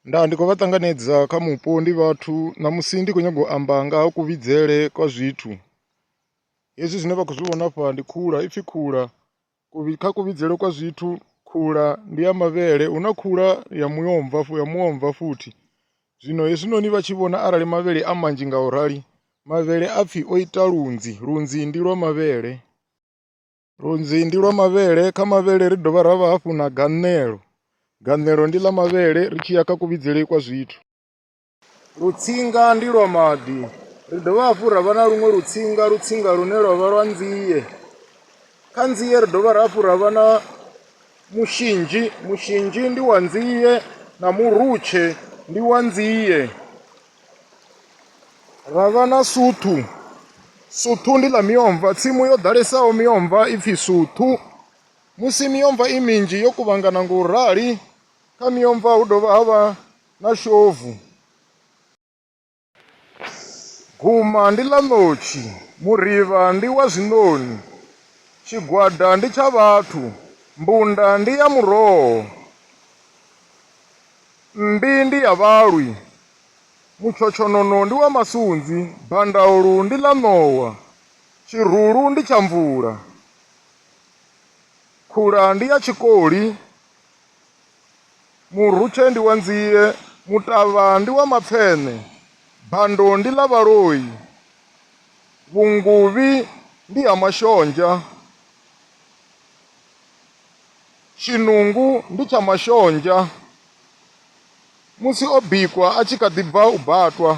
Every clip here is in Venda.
Nda ndi khou vha ṱanganedza kha mupo ndi vhathu ṋamusi ndi khou nyanga u amba nga ha kuvhidzele kwa zwithu hezwi zwine vha khou zwi vhona afha ndi khula ipfhi khula kha kuvhidzele kwa zwithu khula ndi ya mavhele hu na khula ya muomva ya muomva futhi zwino hezwinoni vha tshi vhona arali mavhele a manzhi nga u rali mavhele a pfhi o ita lunzhi, lunzhi ndi lwa mavhele. Lunzhi ndi lwa mavhele, kha mavhele ri dovha ra vha hafhu na gaṋelo, gaṋelo ndi ḽa mavhele ri tshi ya kha kuvhidzele kwa zwithu. Lutsinga ndi lwa maḓi, ri dovha hafhu ra vha na luṅwe lutsinga, lutsinga lune lwa vha lwa nzie. Kha nzie ri dovha hafhu ra vha na mushinzhi, mushinzhi ndi wa nzie na murutshe ndi wa nzie. Ra vha na Suthu. Suthu ndi ḽa miomva, tsimu yo ḓalesaho miomva i pfhi Suthu. Musi miomva i minzhi yo kuvhangana ngo u rali, kha miomva hu dovha ha vha na Shovu. Guma ndi ḽa ṋotshi, Murivha ndi wa zwiṋoni, Tshigwada ndi tsha vhathu, Mbunda ndi ya muroho. Mmbi ndi ya vhalwi, mutshotshonono ndi wa masunzi, bandaulu ndi ḽa ṋowa, tshirulu ndi tsha mvula, khula ndi ya tshikoli, murutshe ndi wa nzie, mutavha ndi wa mapfeṋe, bando ndi ḽa vhaloi, vhunguvhi ndi ha mashonzha. Tshinungu ndi tsha mashonzha. Musi o bikwa a tshi kha ḓi bva u batwa.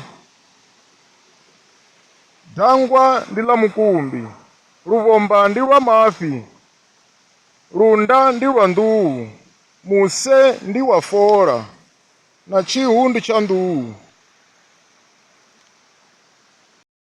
Dangwa ndi ḽa mukumbi. Luvhomba ndi lwa mafhi. Lunda ndi lwa nḓuhu. Muse ndi wa fola. Na tshihu ndi tsha nḓuhu.